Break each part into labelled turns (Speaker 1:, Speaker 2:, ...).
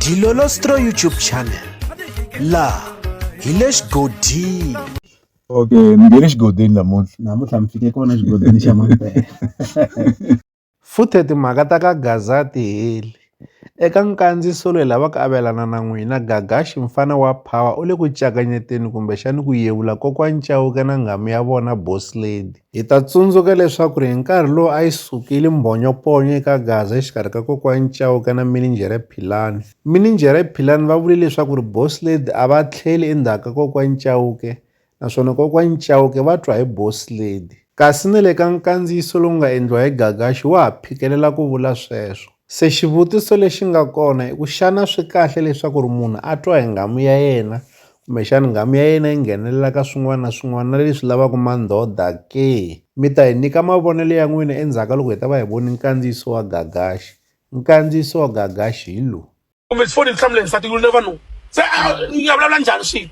Speaker 1: Dilolostro YouTube channel la hi le xigodini okay
Speaker 2: mi nge le xigodini namuntlha namuntlha mi fike kona xigodini xa mampela
Speaker 1: futhe timhaka ta ka gaza ti heli eka nkandziso loyi lava ku avelana na n'wina gagaxi mfana wa power u le ku cakanyeteni kumbexani ku yevula kokwani cawuke na nghamu ya vona boss lady Hi ta tsundzuka leswaku ri hi nkarhi lowu a yi sukile mbhonyoponyo eka Gaza exikarhi ka kokwani Chauke na Mininjhere Philani. Mininjhere Philani va vule leswaku ri Boss Lady a va tlheli endzhaku ka kokwani Chauke naswona kokwani Chauke va twa hi Boss Lady. Kasi na le ka nkandziyiso lowu nga endliwa hi Gagashi wa ha phikelela ku vula sweswo. Se xivutiso lexi nga kona i ku xana swi kahle leswaku ri munhu a twa hi nghamu ya yena kumbexana nghamu ya yena yi nghenelela ka swin'wana na swin'wana na leswi lavaka mandhodha ke? Mi ta hi nyika mavonelo ya n'wina endzhaku ka loko hi ta va hi vone nkandziyiso wa Gagax. Nkandziyiso wa Gagax hi lowu. kumbe ndzi foni ni hlamule
Speaker 3: nsati ku ri na vanhu se a ni nga vulavula njhani swilo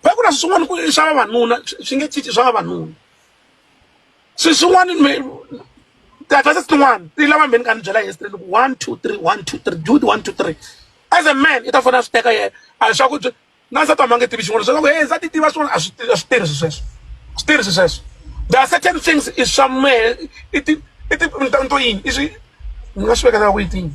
Speaker 3: va ku na swi swin'wana ku i swa vavanuna swi swi nge cinci swa vavanuna swi swin'wana me- ti-advances tin'wana ti lava mbheni ka ni byela yesterday loko one two three one two three do the one two three as a man i ta fona a swi teka yena a swa ku byi- na nsati wa mi a nge tivi xin'wana leswaku he nsati tiva swin'wana a swi a swi tirhi swi sweswo swi tirhi swi sweswo there are certain things i swa mehe i ti i ti ni ta ni to yini i swi ni nga swi vekela ku yi tini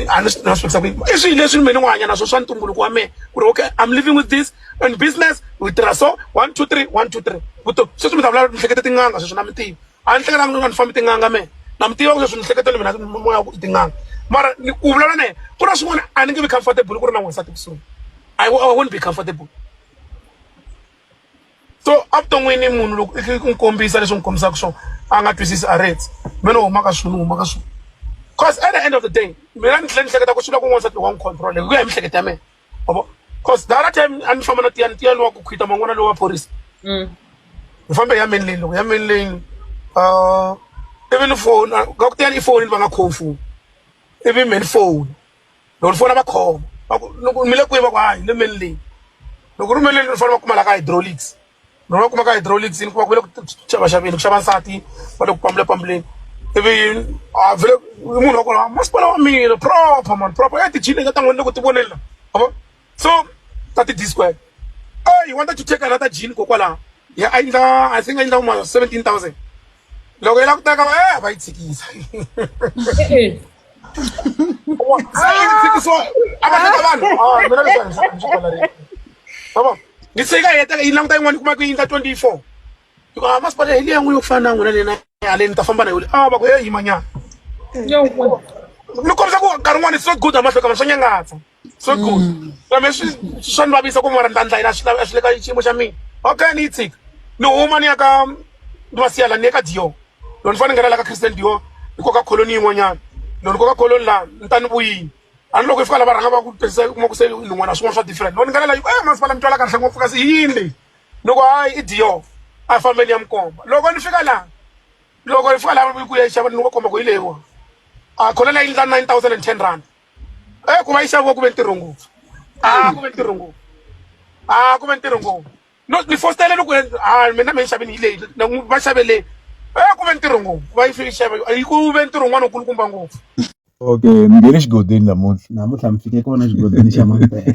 Speaker 3: a ni swi nga swi vekisa ku yini i swilo leswi mina ni n'wi hanya na swo swa ntumbuluko wa mehe ku ri okay i'm living with this and business we tirha so one two three one two three vutomi sweswi mi ta vulavula miehleketo tin'anga sweswi na mi tivi a ni hlekelanga ni nga ni fambi tin'anga mehe na mi tiva ku leswi ni hleketa ni mina moya ku i tin'anga mara ni ku vulavula na yena ku na swin'wana a ni nge vi comfortable ku ri na n'wansati kusuhi i won't be comfortable so evuton'wini munhu loko i n'wi kombisa leswi n'wi kombisaka swona a nga twisisi a reti me ni huma ka swilo ni huma ka swilo cause at the end of the day mina ni tlhela ni hleketa ku swi la ku n'wansati loko wa n'wi control hi ku ya hi mihleketa ya mina Obo. Cause the other time a ni famba na tiya ni tiya lowa ku khwita man'wana lowa phorisa. Mm. Ni fambe ya main lane loko ya main lane. Uh ivi ni phone ka ku tiya ni phone va nga khomi phone. Ivi main phone. Loko ni fona va khoma. Va ku loko mi le kwihi va ku hayi le main lane. Loko ri main lane ni fanele va kuma la ka hydraulics. lowu va kumaka hydraulics ni kuma ku ve le ku xavaxaveni ku xava nsati va le ku pambulapambuleni ivi a vhele munhu wa kona masipala wa mina proper mani proper ya tijini leti ta n'wini loko ti voneni la avo so ta ti-disquare eyi wanta to take another jini kokwalaho ya a endla i think a endla uma seventeen thousand loko yi la ku teka va eh, va yi tshikisa se yi tshikisiwa a va teka vanhu ah, mina leswiaabo ni se yi ka heteka yi languta yin'wana yi kuma ku yi nga twenty four yi ku a ah, masipala hi leya n'wi yo ku fana na n'wina lena haleni ni ta famba na yole a ah, va ku he yimanyana ni kombisa ku nkarhi wun'wana it's not good amahlokama swa nyangatsa so good mm. so me swi swa ni vavisa ku mara ni ta ndlayela swi swi le ka xiyimo xa mina okay ni yi tshika ni huma ni ya ka ni va siyala ni ya ka dior loko ni fane ni nghena la ka christian dior ni koka kholoni yin'wanyana loko ni koka kholoni laha ni ta ni vuyini a ni loko yi fika la va rhanga va ku tirhisa kuma ku se nin'wana swin'wana swa different loko ni nghena la yi ku e eh, masipala mi twala kahle ngopfu kasi i yini leyi ni ku hayi i dior a fambeni ya mi komba loko ni fika laha loko ni fika laha ku ya yi xava ni va komba ku yi leyiwa a kholoni ya yi ndla nine thousand and ten rand Eh, ku va yi xaviwa ku ve ntirho ngopfu a ah, ku ve ntirho ngopfu a ah, ku ve ntirho ngopfu no ni fositele loko a ah, mina mi yi xavini hi leyi va xaveleni e eh, ku ve ntirho ngopfu va yi fike xava yi ku ve ntirho un'wana ukulukumba ngopfu okay
Speaker 2: mi nge le xigodeni namuntlha namuntlha mi fike kona xigodeni xa mampela